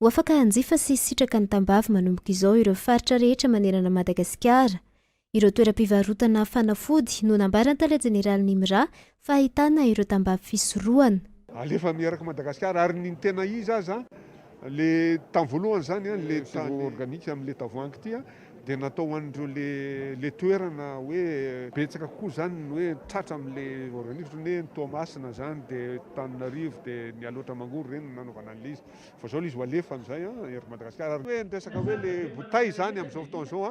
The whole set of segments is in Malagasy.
Ho afaka hanjifa sy hisitraka ny tambavy manomboka izao ireo faritra rehetra manerana an'i Madagasikara. Ireo toeram-pivarotana fanafody no nambaran'ny tale jeneralin'ny IMRA fa ahitana ireo tambavy fisorohana. Alefa miaraka Madagascar ary ny tena izy aza le tam voalohany zany an le tany organique am le tavoahangy ty an de natao ho an'ireo le le toerana hoe betsaka kokoa zany ny hoe tratra am le organique otrany hoe ny Toamasina zany de Tananarivo de Mialoatra Mangoro reny no nanaovana an'le izy. Vao izao ilay izy ho alefany izay ery Madagasikara. Ary hoe ny resaka hoe ilay bouteille izany amin'izao fotoana izao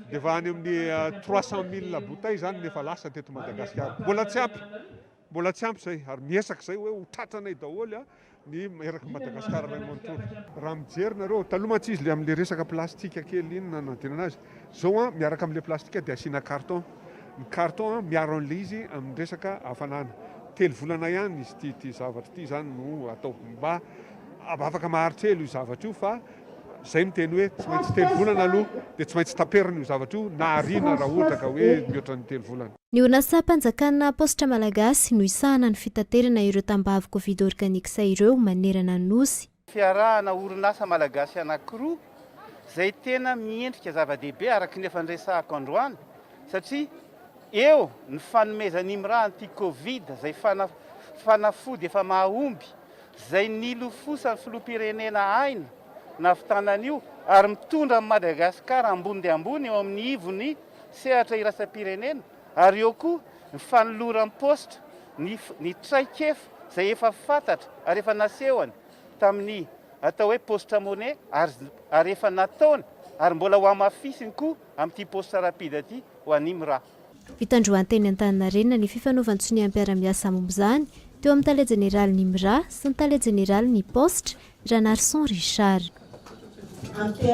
dia efa any amin'ny trois cent mille bouteille izany no efa lasa teto Madagasikara. Mbola tsy ampy, mbola tsy ampy izay ary miezaka izay hoe ho tratranay daholo ny erak'i Madagasikara iray manontolo. Raha mijery nareo, taloha mantsy izy amin'ilay resaka plastika kely iny nanadinana azy Zao an, miaraka amin'ilay plastika dia asiana carton. Ny carton an, miaro an'ilay izy amin'ny resaka hafanana. Telo volana ihany izy ity, ity zavatra ity izany no atao mba afaka maharitra ela io zavatra io fa izay miteny hoe tsy maintsy telo volana aloha dia tsy maintsy taperina io zavatra io na ariana raha ohatra ka hoe mihoatra ny telo volana. Ny orinasam-panjakana Paositra Malagasy no hisahana ny fitaterana ireo tambavy Covid Organics ireo manerana ny Nosy. Fiarahana orinasa malagasy anankiroa izay tena miendrika zava-dehibe araka ny efa niresahako androany satria eo ny fanomezana IMRA anti covid izay fanafody efa mahomby izay nilofosan'ny filoham-pirenena Aina nahavitana an'io ary mitondra an'i Madagasikara ambony dia ambony eo amin'ny ivon'ny sehatra iraisam-pirenena. Ary eo koa ny fanoloram-paositra ny ny traikefa izay efa fantatra ary efa nasehony tamin'ny atao hoe paositra money ary ary efa nataony ary mbola hohamafisiny koa amin'ity paositra rapide ity ho an'ny MRA. Fitandroany teny Antaninarenina ny fifanaovan-tsonia mpiara-miasa momba izany teo amin'ny tale jeneralin'ny MRA sy ny tale jeneralin'ny paositra, Ranarison Richard.